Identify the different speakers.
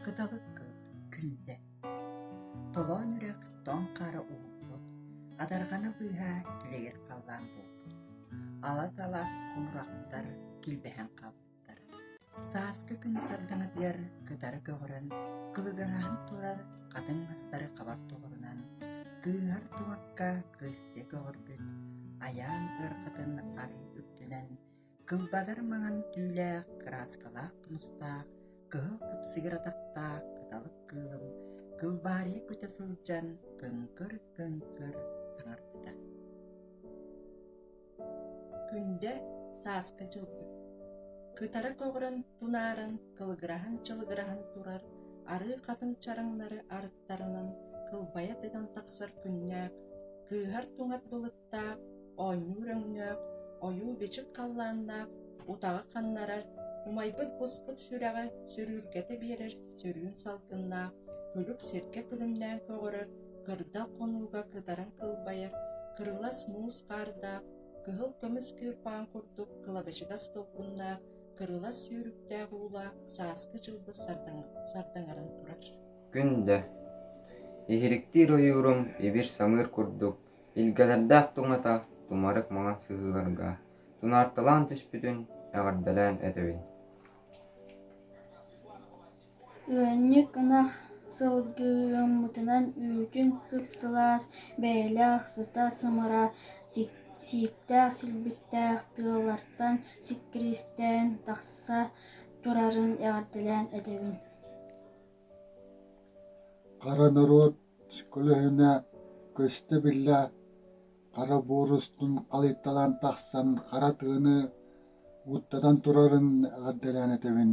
Speaker 1: Кыталык күлдэ. Толоон үрэх тоҥ хара уурбут, адарҕана быыһа тилэйэр халлаан буолбут. Ала-тала хомурахтар килбэһэн хаалбыт ааспыттар. Сааскы күн сардаҥатыгар кытары көҕүрэн, кылыганаһан турар хатыҥ мастары хабар толорунан, кыыһар тубакка кыысты көҕөрбүт айаан ыархатын арыы үрдүнэн, кылбаҕар маҥан түүлээх кырааскалаах тумустаах, кыһыл кыпсыгыр атахтаах кыталык кыылым кылбаарыйа көтө сылдьан, көҥкөр-көҥкөр саҥарбыта. Күндэ сааска чылгын. Кытары көҕүрэн тунаарын кылыгыраһан-чылыгыраһан турар арыы хатыҥ чараҥнары арыттарынан кылбайа тыган тахсар күннээх, кыыһар туҥат былыттаах, оонньуур өҥнөөх, ойуу-бичик халлааннаах, утаҕы ханнарар, умайбыт буспут сүрэҕи сүрүүркэтэ биэрэр сүрүн салгыннаах, күлүк сиргэ күлүмнээн көҕөрөр, кырдал хонууга кытаран кылбайар, кырылас муус хаардаах, кыһыл көмүс кыырпаан курдук кылабачыгас толкуннаах, кырылас сүүрүктээх уулаах сааскы дьылбыс сардаҥаран турар. Күн да, иһириктиир ойуурум ибир-самыыр курдук, илгэлэрдээх туҥата тумарык маҥан сыһыыларга тунаарталаан түспүтүн эҕэрдэлээн этэбин Ыанньык ынах сылгыһыммытынан үүтүн сып-сылаас, бэйэлээх сыта сымара, сииктээх силбиктээх тыалартан сиккиристээн тахса турарын эҕэрдэлээн этэбин Хара норуот көлөһүнэ көстө-биллэ хара буор устун халыйталаан тахсан хара тыаны уоттатан турарын эҕэрдэлээн этэбин